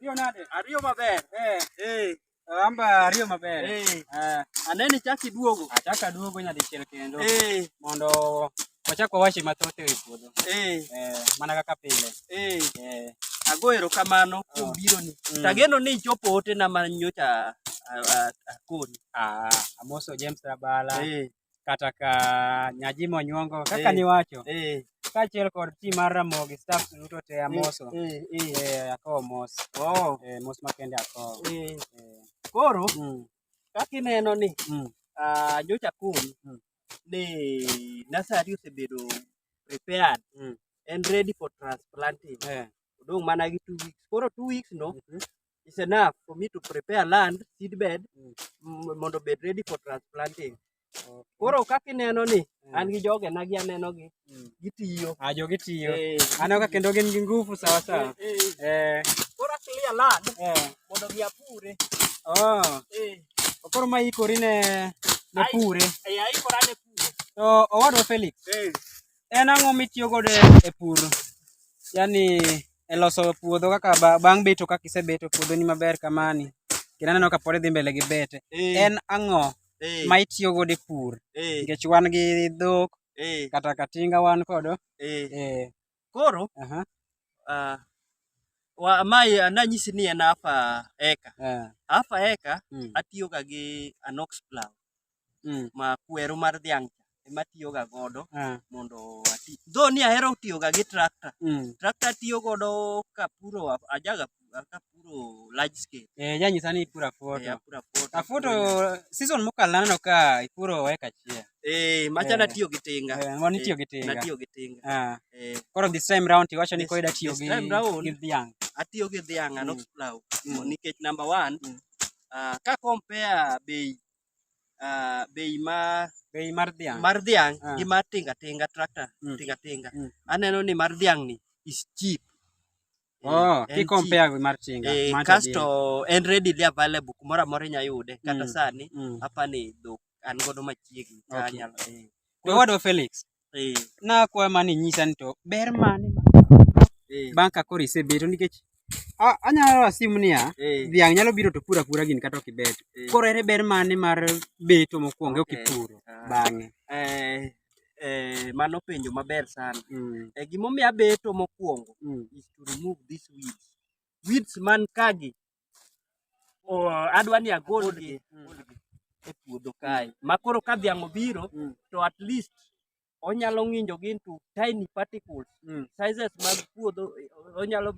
Ariyo nade? Ariyo maber. Eh. Eh. Amba ariyo maber. Eh. eh. Aneni chaki duogo. Achaka duogo nyadichiel kendo. Eh. Mondo wachak wawachi mathoth e puodho. Eh. Eh. Mana kaka pile. Eh. Eh. Ago erokamano oh. kuom bironi. Mm. Tageno ni ichopo otena ma nyocha akoni. Ah, amoso James Rabala. Eh. kata ka nyaji monyuongo kaka eh, niwacho eh. kaachiel kod ti mar ramogi staff duto te eh, amoso akowo mos oh. mos makende akowo koro mm. kaka ineno ni mm. ah, nyocha kum mm. ni nasari osebedo prepared and ready for transplanting odong' mana gi two weeks koro two weeks no mhm. is enough for me to prepare land seed bed mm. mondo bed ready for transplanting okay. koro kaka ineno ni mm. an gi joge na gi aneno gi mm. gitiyo ah jogi tiyo hey. Eh. aneno ka kendo gin gi nguvu sawa sawa hey. Eh, eh. hey. eh koro clear land eh. mondo gi apure oh eh koro ma ikori ne ne pure eh aikora ne pure to owadwa Felix eh en ang'o mitiyo godo e pur yani e loso puodho kaka bang' beto kaka isebeto puodhoni maber kamani kendo aneno ka pod idhi mbele gi bete eh. en ang'o eh. ma itiyo godo e pur eh. nikech wan gi dhok kata katinga wan kodo koro ah, mae ananyisi ni en half eka half eka hmm. atiyoga gi anox plow mm. ma kweru mar dhiang' ema tiyoga godo ah. mondo ati dho ni ahero tiyoga gi tractor mm. tractor tiyo godo kapuro ajaga kapuro large scale eh janyisa ni ipura foto eh, apura foto afoto season mokalo naneno ka ipuro eka achiel eh macha eh. natiyo gi tinga eh, mano itiyo gi eh, tinga natiyo gi tinga ah. eh koro this time round tiwacho ni koida tiyo gi gi dhiang' atiyo gi dhiang' mm. anok plow mm. nikech number 1 mm. ah, ka compare bei ah, bei mar Bei mar dhiang'. mar dhiang' Ah. gi mar tinga tinga tractor Mm. tinga tinga Mm. aneno ni mar dhiang' ni is cheap Eh, Oh, en ki compare gi mar tinga. cheap. Eh, Macha kasto en readily available kumoro amora inya yude kata Mm. sani deal. Mm. apa ni dhok an godo machiegni Okay. kanyalo eh. Wewadwa Felix, Eh. Nakwayo mana inyisa ni to ber mane ma eh. bang' ka koro isebeto nikech anyalo ra simu niya eh. dhiang' nyalo biro to pur apura gini kata ok ibet koro ere ber mane mar beto mokwongo ok ipuro ah. bang'e mano penjo maber sana mm. gimomiyo abeto mokwongo mm. is to remove this weeds weeds man kagi Oh, adwa ni agolgi mm. e puodho kae mm. ma koro ka dhiang' obiro mm. to at least onyalo ng'injogi into tiny particles mm. sizes mag puodho eh, onyalo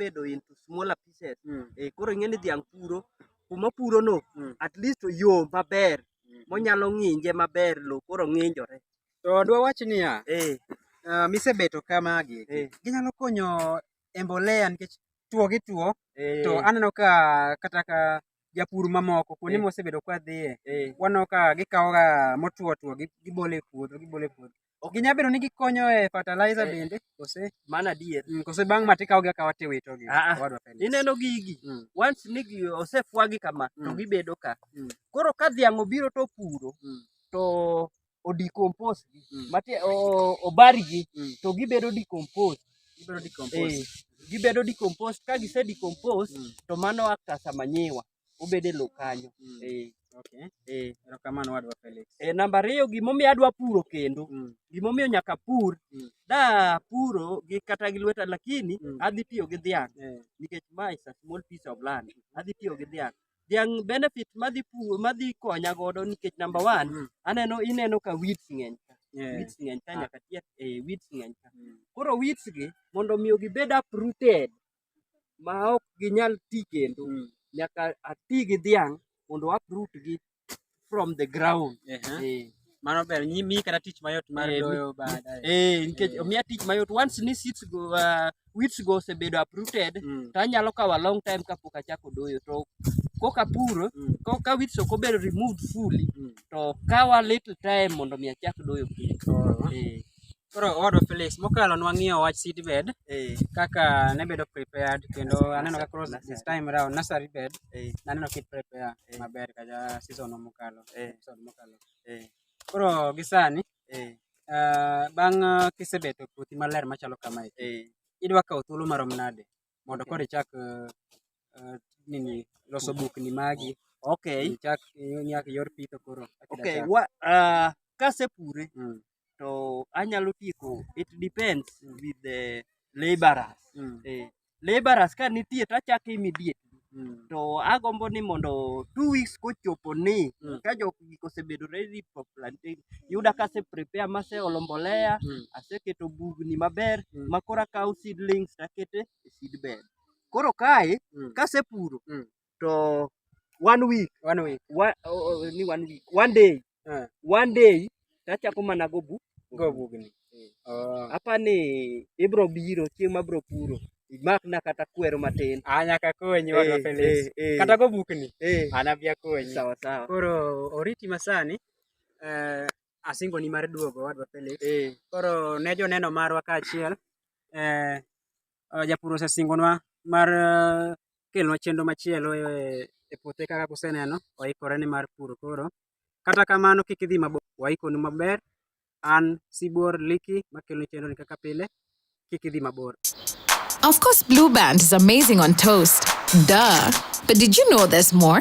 bedo into smaller pieces mm. e, koro ing'e ni dhiang' puro kuma purono mm. at least yo maber mm. monyalo ng'inje maber lo koro ng'injore to dwa wach niya e. uh, misebeto kamagi e. ginyalo konyo e mbolea nikech tuo gi tuo to eh. aneno ka kata ka japur mamoko kuonde eh. mosebedo kwa dhiye eh. waneno ka gikawoga motuo tuo gibole puodho gibole puodho ginya bedo ni gikonyo e fertilizer bende kose mana adier mm, kose bang' ma tikawogi akawa tiwito gi ah, ah. ineno gigi mm. once ni osefwagi kama to mm. gibedo ka koro ka dhiang' obiro to puro to odecompose gi Mm. mati o- obari gi Mm. to gibedo decompose Ibiro decompose. Eh, gibedo decompose ka gise decompose Mm. to mano act as a manyiwa obede lo kanyo Mm. eh, Okay. eh. Erokamano wadwa Felix. E, namba ariyo gimomiyo adwa puro kendo Mm. gimomiyo nyaka pur Mm. da puro gi kata gi lweta lakini Mm. adhi tiyo gi dhiang' Eh. nikech ma is a small piece of land adhi tiyo gi dhiang' dhiang' benefit madhi pur madhi konya godo nikech namba one mm. aneno ineno ka weeds ng'eny ka yeah. weeds ng'eny ka ah. nyaka tie eh, weeds ng'eny ka mm. koro weeds gi mondo miyo gibed uprooted ma ok ginyal ti kendo mm. nyaka ati gi dhiang' mondo uproot gi from the ground uh -huh. eh. Mano ber nyi mi kata tich mayot mar eh, doyo baadaye eh nikech eh. miya tich mayot once ni seeds go uh, weeds go osebedo uprooted mm. to anyalo kawa long time kapok achako doyo to koka puro mm. koka weeds ok obedo removed fully mm. to kawa little time mondo mi achak doyo piny oh. eh. Koro owadwa Felix, mokalo nwang'iyo wach seedbed eh. kaka ne bedo prepared kendo aneno ka cross this time round nursery bed eh. naneno kit prepare eh. maber kaja season mokalo episode mokalo. Koro gisani ah, bang' ah, kisebeto puothi maler machalo kamae idwa kawo thuolo marom nade mondo koro ichak eh, eh, nini loso bukni magi okay ichak inyaka ior pitho koro kaka idwa okay chako. wa ah, kasepure Mm, to anyalo tieko it depends with the laborers mm, eh, laborers ka nitie to achako immediately Mm. To agombo ni mondo two weeks kochopo ni mm. ka jok gik osebedo ready for planting, yuda ka ase prepare ma ase olo mbolea, mm. aseketo bugni maber mm. ma koro akawo seedlings takete e seedbed. Koro kae mm. kasepuro mm. to one week one week one, oh, oh, ni one week one day Eh. one day tachako mana go bu go bugni eh. oh. apa ni ibro biro chieng mabro puro imak na kata kwero matin a ah, nyaka konyi hey, wadwa eh, Felix hey, kata go bukni hey. ana bia konyi sawa sawa koro oriti masani eh, asingo ni mar duogo wadwa Felix hey. koro ne joneno marwa kaachiel eh, uh, japur osesingonwa mar uh, kelonwa chenro machielo e, e puothe kaka kuseneno oikore ni mar puro koro kata kamano kik idhi mabor waikonu maber an sibuor liki makeloni chenro ni kaka pile kik idhi mabor Of course, Blue Band is amazing on toast. Duh. But did you know there's more?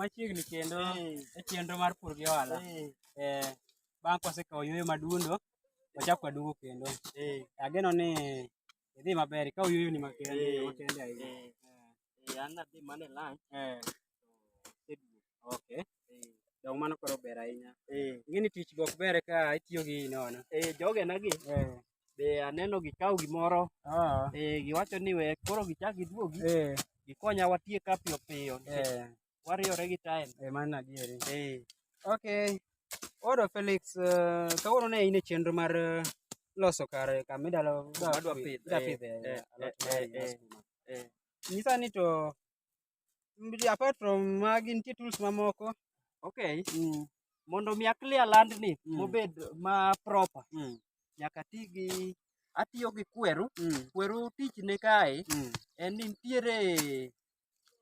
machiegni kendo e chenro mar pur gi ohala eh, bang' kwasekawo yueyo madundo wachak waduogo kendo ageno ni idhi maber ikawo yueyoni makende ahinya Eh, an adhi mana e lunch. Eh. Seduo. Okay. Eh. Dong mano koro ber ahinya. Eh. Ing'e ni tich gok ber ka itiyo gi nono. Eh, jogena gi. Eh. Be aneno gikawo gimoro. Ah. Eh, giwacho ni we koro gichak giduogi. Eh. Gikonya watie ka piyo piyo. Eh. Wariore gi time. Eh, mano adieri. Eh. Okay. Odo Felix, uh, kawuono ne in e chenro mar uh, loso kar kama idalo dwa pidh dwa pidh eh, alot eh, nyisa ni to apart from magi nitie tools mamoko okay mm. mondo mi aklia land ni mm. mobed ma proper mm. nyaka ti gi atiyo gi kweru mm. kweru tich ne kae mm. en ni nitiere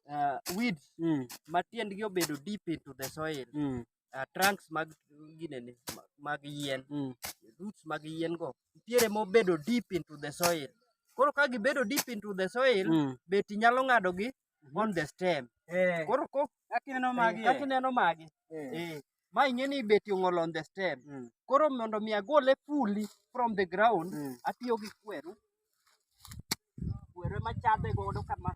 uh, weeds mm. ma tiendgi obedo deep into the soil mm. uh, trunks mag ginene mag yien mm. roots mag yien go nitiere mobedo deep into the soil koro ka gibedo deep into the soil mm. beti nyalo ng'adogi mm-hmm. on the stem eh. koro ko kakineno magi eh, kakineno magi eh. eh. ma ing'e ni beti ong'ol on the stem mm. koro mondo mi agole fully from the ground mm. atiyo gi kweru kweru ema chadhe godo kama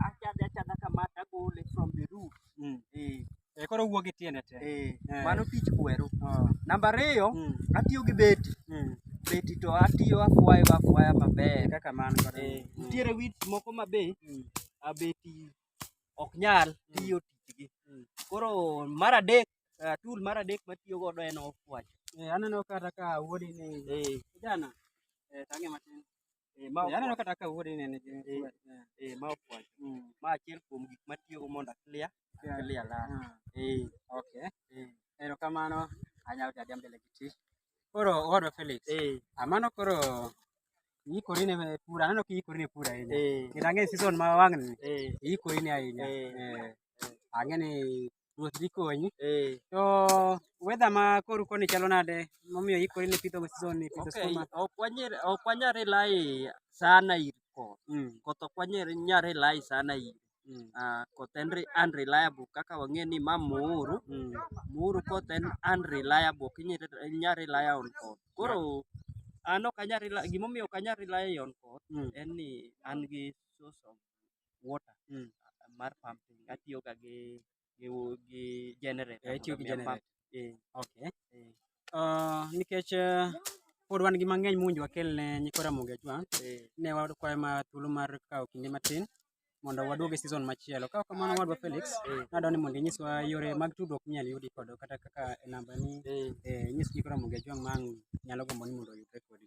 achadhe achadha kama tagole from the root mm. eh. Eh, koro wuog e tiende te eh, eh. mano tich kweru oh. namba ariyo mm. atiyo gi beti mm. beti to atiyo afwayo afwaya maber kaka man eh, mm. nitiere wit moko mabe mm. abeti ok nyal mm. tiyo tijgi. Mm. Koro mar adek, uh, tool mar adek matiyo godo en off-watch. Eh, aneno kata ka wuodi ni eh. kijana eh, tange matin. Eh, ma eh, aneno kata ka wuodi ni ni eh, eh, eh, ma off-watch. Mm. Ma achiel kuom gik matiyo go mondo clear, yeah. clear la. Ah. Eh, okay. Eh. Erokamano, anyalo tadi mbele gi tich. Koro owadwa Felix. Eh. Amano koro Iikori ne pur, aneno ka iikori ne pur ahinya. Eh. Kendo ang'e season ma wang'ni, eh. iikori ne ahinya. Eh. Ang'e ni ruoth dhi konyi. To weather ma koru koni chalo nade momiyo iikori ne pidho season ni pidho skuma? Ok wanyal rely sana ir koth. Mm. Koth ok wanyal rely sana ir. Mm. Ah, koth en re- unreliable kaka wang'e ni ma muuru Mm. muuru koth en unreliable ok inyal inyal rely on koth koro an ok anyal rely gimomiyo ok anyal rely on koth Mm. en ni an gi source of water Mm. ah, mar pumping atiyoga gi gi gi generator. Eh, itiyo gi mondo omi generator. apam- eh, Okay. eh, Ah, nikech eh, pod wan gi mang'eny mowinjo wakel ne nyikwa Ramogi Ajwang', eh. ne wakwayo ma thuolo mar kawo kinde matin mondo waduog e season machielo. Ka ok kamano wadwa Felix, nadwa ni mondo inyiswa yore mag tudruok minyalo yudi kod kata kaka e namba ni eh, nyis nyikwa Ramogi Ajwang' ma ang' nyalo gombo ni mondo oyudre kodi.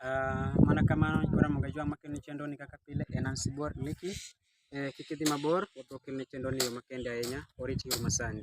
Ah, mana kamano nyikora moga jwa makelni chenro ni kaka pile en an sibuor liki eh, kik idhi mabor pod wakelni chenro ni yo makende ahinya orit yo masani